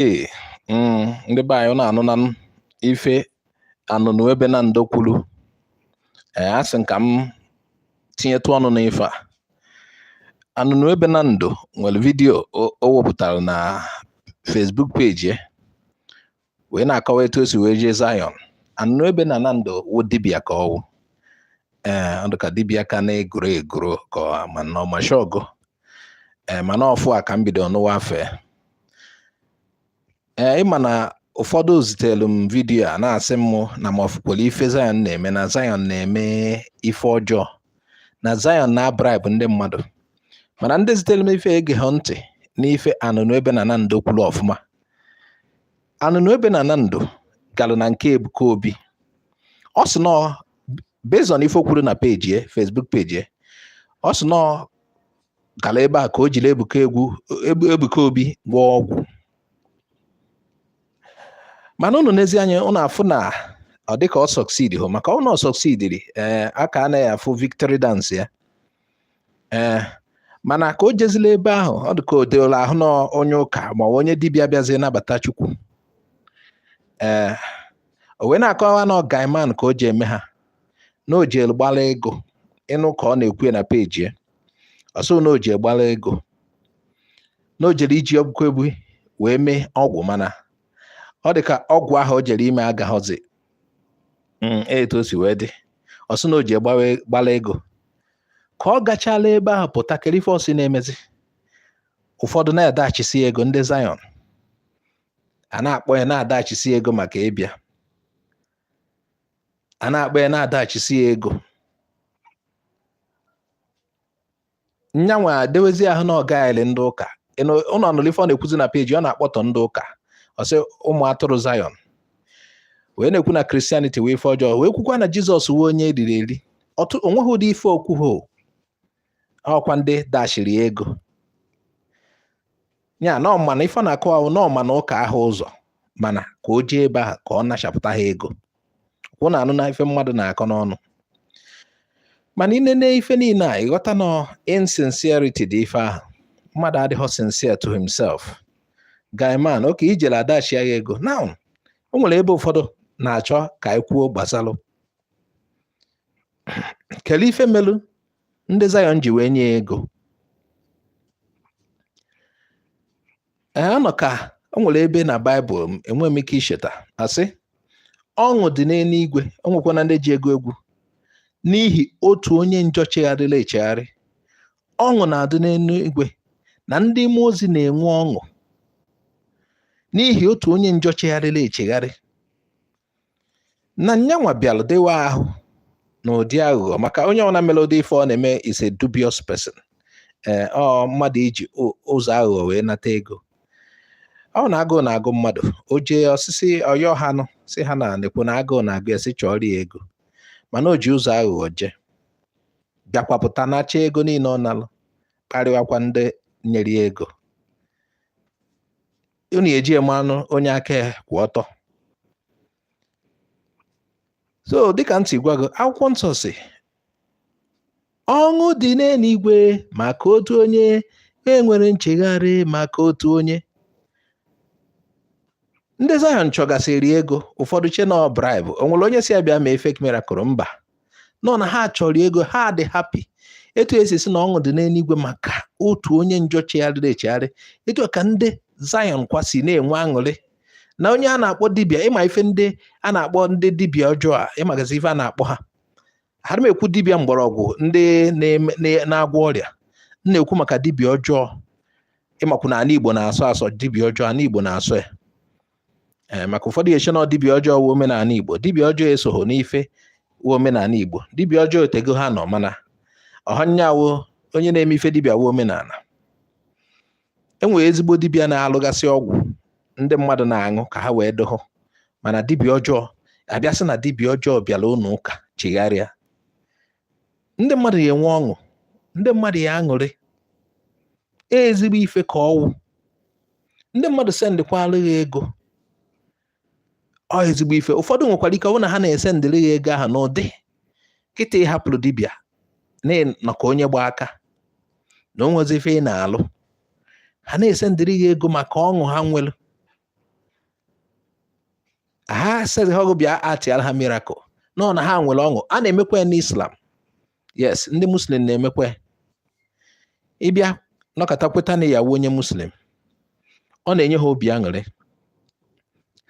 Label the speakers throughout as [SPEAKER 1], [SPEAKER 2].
[SPEAKER 1] Ee, mm, ndị be anyị na-anụ na ife Anụnụebe Nando kwuru ee asị m ka m tinyetụ ọnụ n'ife a Anụnụebe Nando nwere vidiyo o wepụtara na Facebook peji ya wee na-akọwa etu o si wee jee Zion Anụnụebe na Nando wụ dibịa ka ọ wụ ee ọ dị ka dibịa ka na-egoro egoro ka ma na ọmashọgụ ee mana ọfụ a ka m bido nụwa afa e ee ịma na ụfọdụ zitelu m vidiyo a na-asị m na m afụkwara ife Zion na-eme na Zion na-eme ife ọjọọ na Zion na-abraibụ ndị mmadụ mana ndị zitelu m ife egehe ntị n'ife Anụnụebe na Nando kwuru ọfụma Anụnụebe na Nando galụ na nke Ebuka Obi ọ sị na ọ based on ife o kwuru na peji e Facebook peji e ọ sị na ọ gara ebe a ka o jiri Ebuka egwu Ebu- Ebuka Obi gwọọ ọgwụ mana unu nezie anya unu afụ na ọ dịka ọ succeedhọ maka na ọ succeediri ee a ka na-afụ victory dance ya ee mana ka o jezila ebe ahụ ọ dị ka o dewela ahụ na onye ụka ma ọ bụ onye dibịa bịazie nabata Chukwu ee o wee na-akọwa na ọ guy man ka o ji eme ha na o jelu gbara ego ị nụ ka ọ na-ekwu ya na peji ya ọ sị na o ji gbara ego na o jere iji Ebuka Obi wee mee ọgwụ mana ọ dị ka ọgwụ ahụ o jere ime agahọzi mm, etu o si wee dị ọ sị na o ji gbara ego ka ọ gachala ebe ahụ pụta kere ife ọ sị na-emezi ụfọdụ na-adashisi ego ndị Zion a na-akpọ ya na-adashisi ya ego maka ịbịa a na-akpọ ya na-adashisi ya ego nya nwa dewezi ahụ na ọ ga-eli ndị ụka unu nụlụ ife ọ na-ekwuzi na peji ọ na-akpọtọ ndị ụka ọ sị ụmụ atụrụ Zion wee na-ekwu na Christianity wụ ife ọjọọ wee kwukwa na Jizọs wụ onye e riri eri o nweghị ụdị ife o kwuhọ ọ kwa ndị dashiri ego ya na ọ ma na ife na-akụ ahụ na ọ ma na ụka ahụ ụzọ mana ka o jee ebe ahụ ka ọ nachapụta ha ego kwụ na anụ na ife mmadụ na-akọ n'ọnụ mana i nene ife niile a ị ghọta na insincerity dị ife ahụ mmadụ adịghị sincere to himself guy man oke ijele adashi ya ego na o nwere ebe ụfọdụ na-achọ ka anyị kwuo gbasalụ kele ife melu ndị Zion ji wee nye ego anọ ka o nwere ebe na Baịbụl enwe m ike icheta a sị ọṅụ dị n'eluigwe o nwekwanụ ndị ji ya agụ egwu n'ihi otu onye njọ chegharịla echegharị ọṅụ na-adị n'eluigwe na ndị mmụọ ozi na-enwe ọṅụ n'ihi otu onye njọ chegharịla echegharị na nyanwa bịara dewe ahụ na ụdị aghụghọ maka onye ọbụla mere ụdị ife ọ na-eme is a dubious person ee ọ mmadụ iji o- ụzọ aghụghọ wee nata ego ọ wụ na agụụ na-agụ mmadụ o jee ọsịsị ọ yọọ hanụ sị ha na nekwu na agụụ na-agụ ya sị chọọrọ ya ego mana o ji ụzọ aghụghọ jee bịakwapụta nacha ego niile ọ nalụ kparịwakwa ndị nyere ya ego unu ya-eji ya manụ onye aka ya kwụ ọtọ so dịka m si gwa gị akwụkwọ nsọ sị ọṅụ dị n'eluigwe maka otu onye nwere nchegharị maka otu onye ndị Zion chọgasịrị ego ụfọdụ chee na ọ bribe o nwere onye sị ya bịa mee fake miracle mba na ọ na ha chọọrọ ya ego ha dị happy etu e si sị na ọṅụ dị n'eluigwe maka otu onye njọ chegharịrị echegharị etu ka ndị Zion kwa si na-enwe aṅụrị na onye a na-akpọ dibia ị ma ife ndị a na-akpọ ndị dibia ọjọọ a ị magazi ife a na-akpọ ha aha m ekwu dibia mgbọrọgwụ ndị na-agwọ ọrịa m na-ekwu maka dibia ọjọọ ị makwu na ala Igbo na-asọ asọ dibia ọjọọ ala Igbo na-asọ ya ee eh, maka ụfọdụ ya-eche na dibịa ọjọọ wụ omenala Igbo dibịa ọjọọ esoghị n'ife wụ omenala Igbo dibịa ọjọọ o teego ha nọ mana ọhọ ya wụ onye na-eme ife dibịa wụ omenala e nwere ezigbo dibịa na-alụgasị ọgwụ ndị mmadụ na-aṅụ ka ha wee dohụ mana dibịa ọjọọ abịa sị na dibịa ọjọọ bịara ụlọ ụka chegharịa ndị mmadụ ya-enwe ọṅụ ndị mmadụ ya aṅụrị e ezigbo ife ka ọ wụ ndị mmadụ sendịkwara gị ego ọ ezigbo ife ụfọdụ nwekwara ike ọ bụrụ na ha na-esendịrị gị ego ahụ n'ụdị kịta ị hapụrụ dibịa nọ ka onye gba aka na o nwezi ife ị na-alụ ha na-esendịrị gị ego maka ọṅụ ha nwere ha asịhọ gị bịa actịara ha miracle na ọ na ha nwere ọṅụ a na-emekwa ya n'islam yes ndị muslim na-emekwa ya ị bịa nọkata kweta na ị ya-awụ onye muslim ọ na-enye ha obi aṅụrị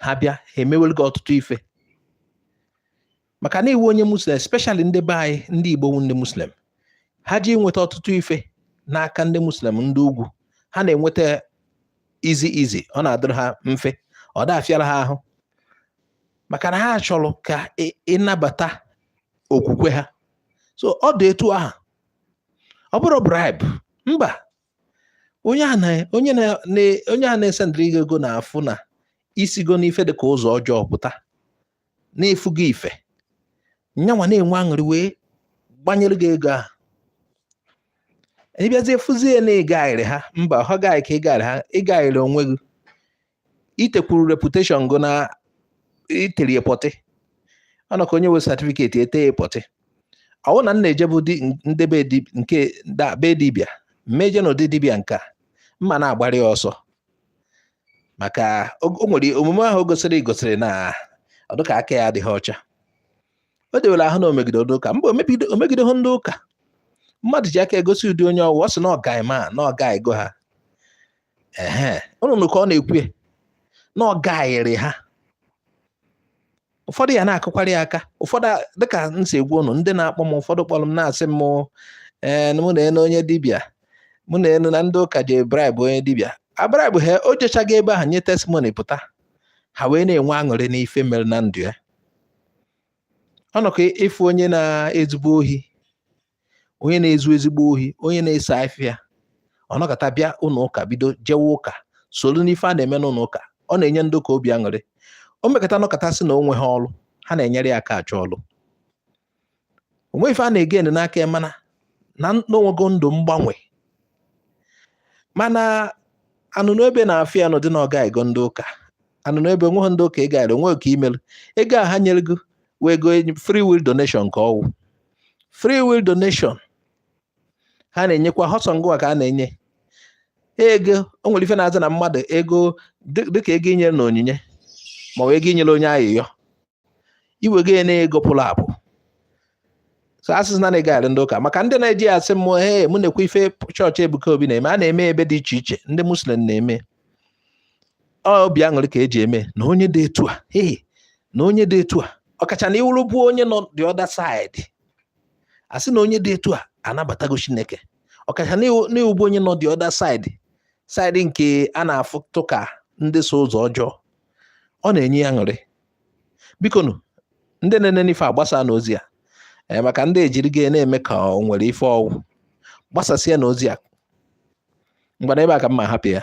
[SPEAKER 1] ha bịa ha emewere gị ọtụtụ ife maka na ị wụ onye muslim especially ndị be anyị ndị igbo wụ ndị muslim ha ji enweta ọtụtụ ife n'aka ndị muslim ndị ugwu ha na-enweta easy easy ọ na-adịrị ha mfe ọ da-afịara ha ahụ maka na ha chọrọ ka ị na-abata okwukwe ha so ọ dị etu aha ọ bụrụ bribe mba onye a na onye na onye a na-esendịrị gị ego na-afụ na isigo n'ife dị ka ụzọ ọjọọ pụta na-efu gị ife nyanwa na-enwe aṅụrị wee gbanyere gị ego ahụ ịbịazie fụzie na ịgayịrị ha mba ha gaghị ka ịgayịrị ha ịgayịrị onwe gị itekwuru reputation gụ na iterie pọtị ọ nọ ka onye nwe certificate ete ya pọtị ọwụ na m na-ejebu ndebe nke be dibịa m ma eje na ụdị dibịa nke a m ma na-agbara ya ọsọ maka o nwere omume ahụ o gosiri gosiri na ọdụka aka ya adịghị ọcha o dewere ahụ na omegide ụka mba omegidehọ ndị ụka mmadụ ji aka egosi ụdị onye ọwụ ọ sị na ọgaị ma na ọgayịgo ha ehe ụnụ nụ ka ọ na-ekwu na ọ gayịrị ha ụfọdụ ya na-akụkwara ya aka ụfọdụ dịka m si agwa ụnụ ndị na-akpọ m ụfọdụ kpọrọ m na-asị m ee mụ nee nụ onye dibịa mụ nee nụ na ndị ụka ji bribe onye dibịa abraibụ ha o jechaga ebe ahụ nye testimony pụta ha wee na-enwe aṅụrị n'ife mere na ndụ ya ọ nọ ka ịfụ onye na-ezigbo ohi onye na-ezu ezigbo ohi onye na-ese afịa ọ nọkọta bịa ụlọ ụka bido jewe ụka solu n'ife a na-eme n'ụlọ ụka ọ na-enye ndị ụka obi aṅụrị o mekọta nọkọta sị na o nweghị ọrụ ha na-enyere ya aka achọ ọrụ onwe ife a na-ege ene n'aka ya mana na onwego ndụ mgbanwe mana Anụnụebe na-afụ ya n'ụdị na ọgayịgo ndị ụka Anụnụebe onweghị ndị ụka ịgayịrị onwe gị ka imelu ego a ha nyere gị wụ ego free will donation ka ọwụ free will donation ha na-enyekwa họ sọ ngụwa ka a na-enye ego o nwere ife na-aza na mmadụ ego dịka ego inyere na onyinye ma ọ bụ ego inyere onye ayịyọ iwego ya na ego pụrụ apụ so asịzina na ịgayịrị ndị ụka maka ndị na-eji ya asị mụ he mụ nekwa ife chọọchị Ebuka Obi na-eme a na-eme ebe dị iche iche ndị muslim na-eme obi aṅụrị ka eji eme na onye dị etu a ee na onye dị etu a ọkacha na ịwụrụbu onye nọ the other side asị na onye dị etu a anabatago Chineke ọkacha na ịwụbu onye nọ the other side side nke a na-afụtụ ka ndị so ụzọ ọjọọ ọ na-enye ya aṅụrị biko nụ ndị na-ene n'ife a gbasaanụ ozi a eh, maka ndị ejiri gị na-eme ka o nwere ife ọwụ gbasasịanụ ozi a ngwanụ ebe a ka m ma hapụ ya